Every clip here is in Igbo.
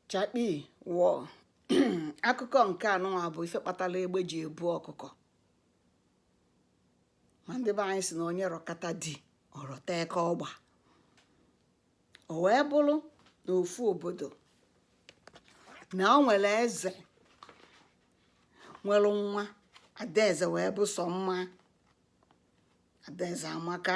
chakpi wọ akụkọ nke a nụnwa bụ ife kpatara egbe ji ebu ọkụkọ ma ndị be anyị sị na onye rọkata di ọ rọta eke ọgba o wee bụrụ na ofu obodo na o nwere eze nwere nwa adaeze wee bụ sọ mma adaeze amaka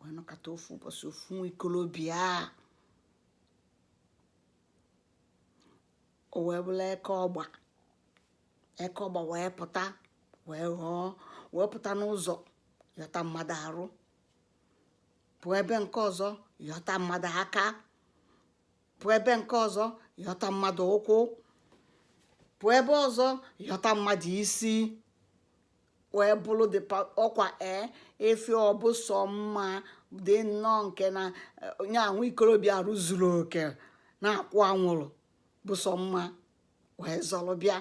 wee nọkata ofu ụbọchị ofu nwa ikolobịa o wee bụrụ eke ọgba eke ọgba wee pụta wee ghọọ wee pụta n'ụzọ yọta mmadụ arụ pụọ ebe nke ọzọ yọta mmadụ aka pụọ ebe nke ọzọ yọta mmadụ ụkwụ pụọ ebe ọzọ yọta mmadụ isi wee bụrụ dị ọkwa ee ife ọ bụ sọ mma dị nnọọ nke na onye ahụ ikorobịa arụ zuru oke na-akwụ anwụrụ bụ sọ mma wee zọrọ bịa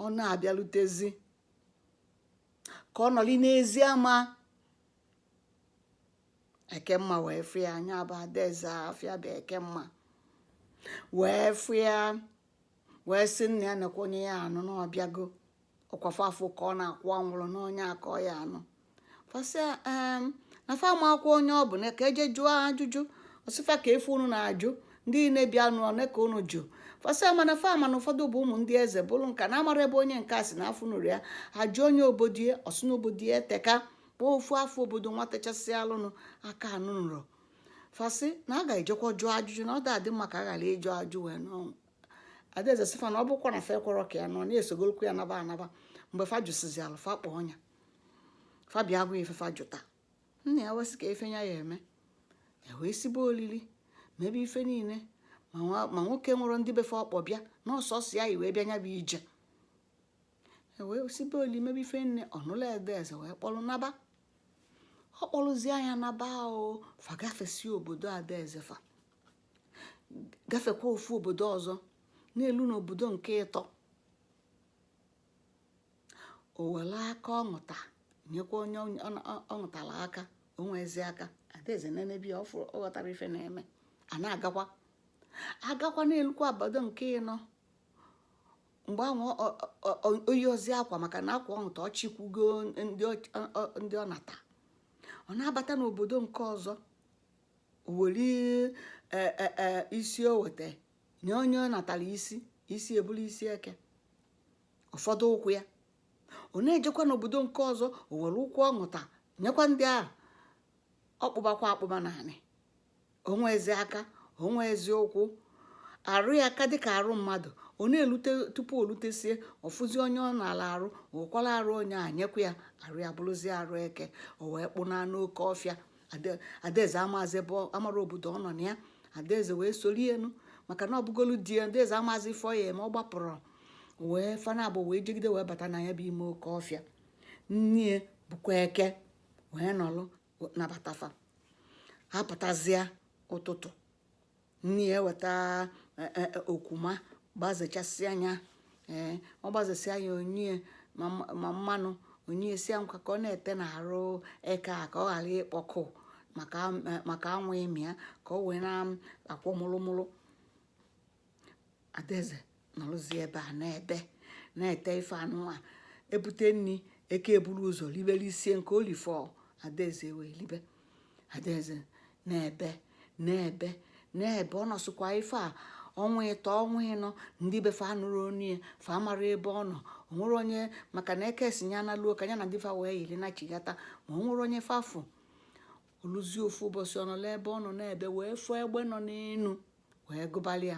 ọ na-abịalutezi ka ọ nọli n'ezi ama ekemma wee fụ ya nya bụ adaeze afa ya bụ ekemma wee fụ ya wee sị nna ya nekwa onye ya anụ na ọ bịago ọkwa fa afụ ka ọ na-akwụ anwụrụ na onye a ka ọ ya anụ fa sị ya em na fa amakwa onye ọ bụ na ka e jee jụọ ajụjụ ọ sị fa ka ife unu na-ajụ ndị niile bịanụ one ka unu jụ fa sị ya mana fa ma na ụfọdụ bụ ụmụ ndị eze bụrụ nka na amarọ ebe onye nke a si na afụnurọ ya a jụọ ya obodo ya ọ sị na obodo ya eteka kpọọ ofu afa obodo nwatachasị alụnụ aka anụnurọ fa sị na a ga-ejekwa jụọ ajụjụ na ọ da adị mma ka a ghara ịjụ ajụ wee n'ọnwụ adaeze sị fa na ọ bụkwa na fa ekwerọ ka ya nụọ na ya esogolukwu ya naba anaba mgbe fa jụsịzịalụ fa kpọọ ya fa bịa gwa ife fa jụta nna ya wee sị ka ife ya ya eme e wee sibe olili mebe ife niile ma nwa- ma nwoke nwere ndị be fa ọ kpọ bịa na ọsọsọ ya yi wee bịa ya bụ ije e wee sibe olili mebe ife nine ọ nụlụ adaeze wee kpọrọ naba ọ kpọrụzie ya naba o fa gafesi obodo adaeze fa gafekwa ofu obodo ọzọ na-elu n'obodo nke ịtọ o were aka ọ ṅụta nyekwa onye ọ ṅụtara aka o nwezi aka adaeze nenebe ya ọ ghọtarọ ife na-eme a na-agakwa agakwa na-elukwa obodo nke ịnọ mgbe ahụ o yirozi akwa maka na akwa ọ ṅụta ọ chịkwugo ndị ọ nata ọ na-abata n'obodo nke ọzọ were e, e, e, isi o weta nye onye ọ natara isi isi abụrụ isi eke ọ fọdụ ụkwụ ya ọ na-ejekwa n'obodo nke ọzọ o were ụkwụ ọ ṅụta nyekwa ndị ahụ ọ kpụbakwa akpụba n'anị o nwerọzi aka o nwerọzi ụkwụ arụ ya ka dịka arụ mmadụ ọ na-elute tupu o lutesie ọ fụzie onye ọ naara arụ ọ kwara arụ onye a nyekwa ya arụ ya bụrụzie arụ eke o wee kpụnaa n'oke ọfịa Ade- adaeze amazi ebe ọ- amarọ obodo ọ nọ na ya adaeze wee soro ya nụ maka na ọ bụgolu di ya adaeze amazi ife ọ ya eme ọ gbapụrụ wee fa nabọ wee jegide wee bata na ya bụ ime oke ọfịa nne ya bụkwa eke wee nọlụ nabata fa ha pụtazịa ụtụtụ nne ya eweta e, e, e, okwuma gbazechasịa ya ee ọ gbazesịa ya o nye ma mmanụ o nye sị ya ka ọ na-ete n'arụ eke a ka ọ ghara ịkpọ nkụ maka anwụ ịmị ya ka ọ wee na-akwọ mụlụmụlụ adaeze nọrụzi ebe a na-ebe na-ete ife anụnwa e bute nri eke eburu ụzọ libe lisie nke o lifọ adaeze wee libe adaeze na-ebe na-ebe na-ebe ọ nọsịkwa ife a ọnwa ịtọ ọnwa ịnọ ndị be fa anụrọ onu ya fa amarọ ebe ọ nọ o nwerọ onye maka na eke si ya na luo ka ya na di ya wee yiri nachigata ma o nwerọ onye fa fụ o luzie ofu ụbọchị ọ nọlụ ebe ọ nọ na-ebe wee fụọ egbe nọ n'elu wee gụbalị ya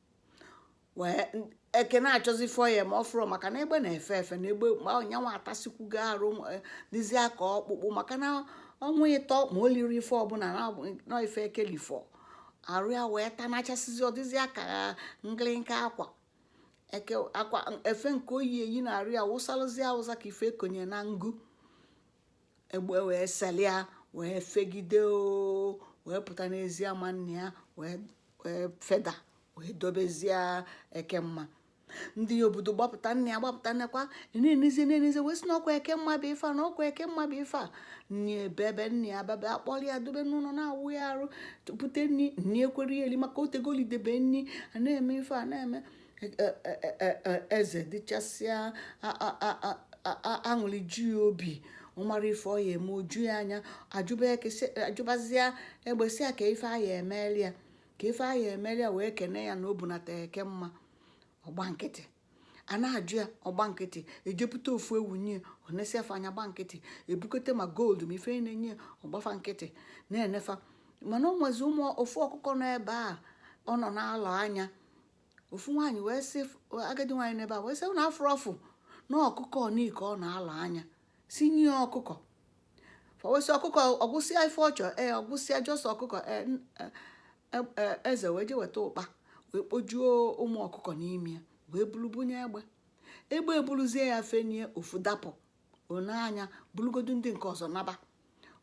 wee eke na-achọzi ịfụ ya ma ọ fụrọ maka na egbe na-efe efe na egbe ma nyanwa atasikwugo arụ dịzịa ka ọkpụkpụ maka na ọnwa ịtọ ma o lirọ ife ọbụla na ife eke lifọ arụ ya wee tanachasịzịa ọ dịzịa ka nkịlịka akwa eke akwa efe nke o yi eyi na arụ ya wụsalụzi awụsa ka ife e konye na ngụ egbe wee selie ya wee fegide o wee pụta n'ezi ama nna ya wee feda wee dobezie ekemma ndị obodo gbapụta nna ya gbapụta nnekwa na-enezi na-enezi wee sị na ọ kwa ekemma bụ ife a na ọ kwa ekemma bụ ife a nne ya ebebe nna ya bebe a kpọrọ ya dobe n'ụlọ na-awụ ya arụ bute nni nni ekwerọ ya eli maka o tegoli o debe nni a na-eme ife a na-eme e, e, e, eze dịchasịa aṅụrị ju ya obi ọ marọ ife ọ ya eme o ju ya anya a jụbazịa egbe sị ya ka ife a ya emeli ya ka ife a ya emeli ya wee kene ya na o bunata ekemma ọ gba nkịtị a na-ajụ ya ọ gba nkịtị e wepụta ofu ewu nye ọ na-esefe anya gba nkịtị e bukọta ma gold ma ife niine ọ gba fa nkịtị na-ene fa mana o nwezi ụmụ ofu ọkụkọ nọ ebe a ọ nọ na-alọ anya ofu nwaanyị wee sị agadi nwaanyị n'ebe a wee sị na a fụrụ ọfụ na ọkụkọ nị ka ọ na-ala anya sị nye ya ọkụkọ fa wee sị ọkụkọ ọ gwụsịa ife ọ chọ ee ọ gwụsịa just ọkụkọ e, e, e, eze wee je weta ụkpa wee kpojuo ụmụ ọkụkọ n'ime ya wee bulu bunye egbe egbe ebuluzie ya fenie ofu dapụ o nee anya bulugodu ndị nke ọzọ naba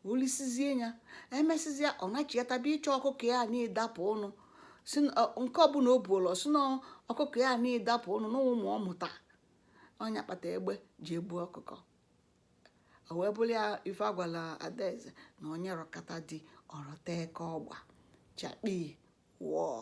o lisizie ya e mesịzịa ọ nachiata bịa ịchọ ọkụkọ ya nị dapụnụ si na- ọ- nke ọbụla o buolu ọ sị na ọkụkọ ya nị dapụnụ na ụmụ ọ mụta ọ nya kpata egbe ji ebu ọkụkọ o wee bụlụ ya ife a gwala adaeze na onye rọkata di ọ rọta eke ọgba chakpii wọọ